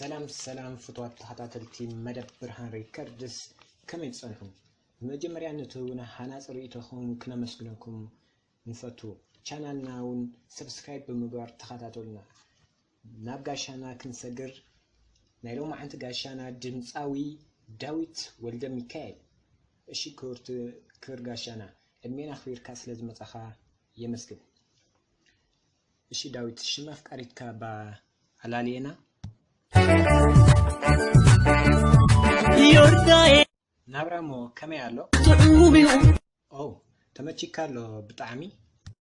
ሰላም ሰላም ፍትዋት ተኸታተልቲ መደብ ብርሃን ሪከርድስ ከመይ ትጸንሑ መጀመርያ ነቲ እውን ሃናፂ ርእይቶኹም ክነመስግነኩም ንፈቱ ቻናልና እውን ሰብስክራይብ ብምግባር ተኸታተሉና ናብ ጋሻና ክንሰግር ናይ ሎማዓንቲ ጋሻና ድምጻዊ ዳዊት ወልደሚካኤል እሺ ክብርቲ ክብር ጋሻና ዕድሜን ኣክቢርካ ስለ ዝመጻኻ የመስግን እሺ ዳዊት ሽም ኣፍቃሪትካ እባ ኣላልየና ናብራሞ ከመይ ኣሎ ኦ ተመቺካ ኣሎ ብጣዕሚ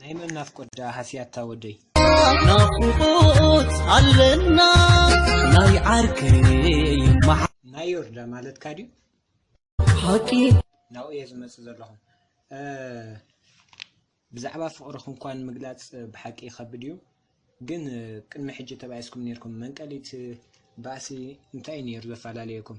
ናይ መን ናፍቆት ደኣ ሃስያታ ወደይ። ናፍቆት ኣለና ናይ ዓርከይ ናይ ዮርዳ ማለትካ ድዩ ሓቂ ናብኡ እየ ዝመፅእ ዘለኹ ብዛዕባ ፍቕሪ ክንኳን ምግላፅ ብሓቂ ይኸብድ እዩ ግን ቅድሚ ሕጂ ተባኢስኩም ነርኩም መንቀሊት ባእሲ እንታይ እዩ ነይሩ ዘፈላለየኩም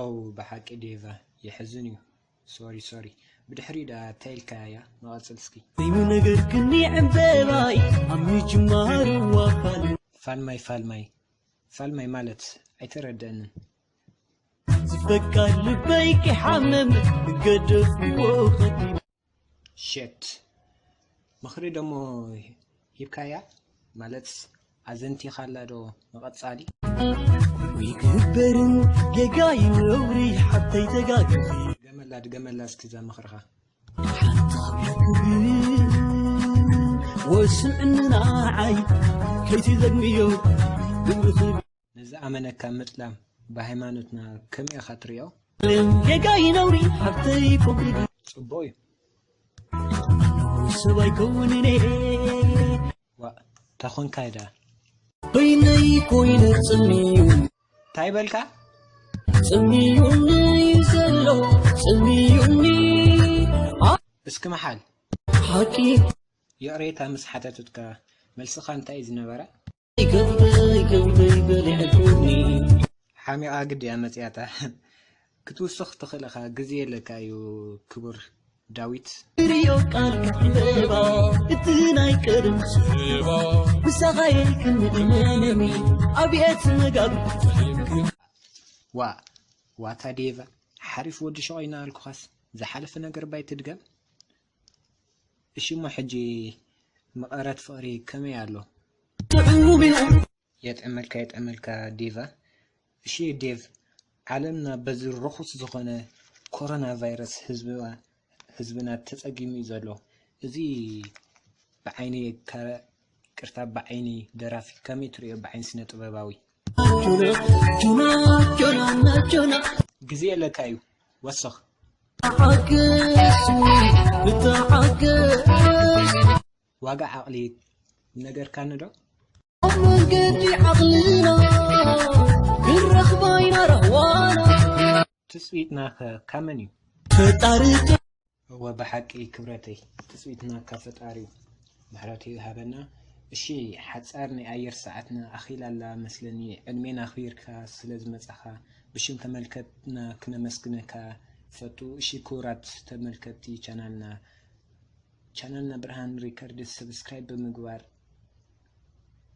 ኦው ብሓቂ ዴቫ የሕዝን እዩ ሶሪ ሶሪ ብድሕሪኡ ደኣ ታይ ኢልካያ ንቀፅል እስኪ። እዩ ነገር ክኒ ዕምበባይ ኣብ ምጅማሩ ኣባል ፋልማይ ፋልማይ ፋልማይ ማለት ኣይተረደእንን። ዝፈቃር ልበይ ክሓምም ገደፍዎ ከቢድ ሸት ምኽሪ ደሞ ሂብካያ ማለት ኣዘንቲኻላ ዶ ንቐጻሊ ይግበርን ጌጋ ዩ ነውሪ ሓብተይ ተጋግኺ ድገመላ ድገመላ እስኪ እዛ ምኽርኻ ወስምዕንና ዓይ ከይትዘግምዮ ግብርኺ ንዝኣመነካ ምጥላም ብሃይማኖትና ከመይ ኢኻ ትሪኦ? ጌጋ እዩ ነውሪ ሓፍተይ ፎግሪ ድዩ ጽቡቕ እዩ። ኣነ'ውን ሰብ ኣይከውንን እየ ዋእ ተኾንካይ ደኣ በይነይ ኮይነ ጽምዩ ታይ በልካ? ጽምዩኒ እዩ ዘሎ ጽምዩኒ ኣ እስኪ ምሓል። ሓቂ ይቕሬታ ምስ ሓተትትካ መልስኻ እንታይ እዩ ዝነበረ? ሓሚቓ ግዲ እያ መጺኣታ ክትውስኽ ትኽእል ኢኻ ግዜ የለካ እዩ ክቡር ዳዊት ሪዮ ቃልካ ዕምበባ እቲ ናይ ቀደም ስባ ምሳኻየ ክንእመነኒ ኣብየት መጋቢ ዋ ዋታ ዴቫ ሓሪፍ ወዲ ሸቆይና ኣልኩኻስ ዝሓለፈ ነገር ባይ ትድገም እሺ እሞ ሕጂ መቐረት ፍቕሪ ከመይ ኣሎ? የጥዕመልካ የጥዕመልካ ዴቫ። እሺ ዴቭ ዓለምና በዚ ርኹስ ዝኾነ ኮሮና ቫይረስ ህዝብና ህዝብና ተጸጊሙ እዩ ዘሎ። እዚ ብዓይኒ ከ ቅርታ ብዓይኒ ደራፊ ከመይ ትርእዮ ብዓይኒ ስነ ጥበባዊ? ግዜ የለካ እዩ ወሰኽ። ዋጋ ዓቕሊ ነገርካኒዶ? ኣብ መንገዲ ዓቕልና ክንረኽባ ኢና ራህዋና ትጽቢትናኸ ካብ መን እዩ? ፈጣሪ እወ ብሓቂ ክብረተይ ትጽቢትና ካብ ፈጣሪዩ ምሕረቱ ይሃበና እሺ ሓጻር ናይ ኣየር ሰዓትና ኣኺላ ኣላ መስለኒ ዕድሜና ኣኽቢርካ ስለ ዝመጻኻ ብሽም ተመልከትና ክነመስግነካ ይፈቱ እሺ ክቡራት ተመልከቲ ቻናልና ቻናልና ብርሃን ሪከርድስ ሰብስክራይብ ብምግባር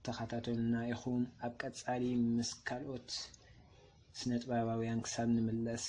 ተኸታተሉና ኢኹም ኣብ ቀጻሊ ምስ ካልኦት ስነጥበባውያን ክሳብ ንምለስ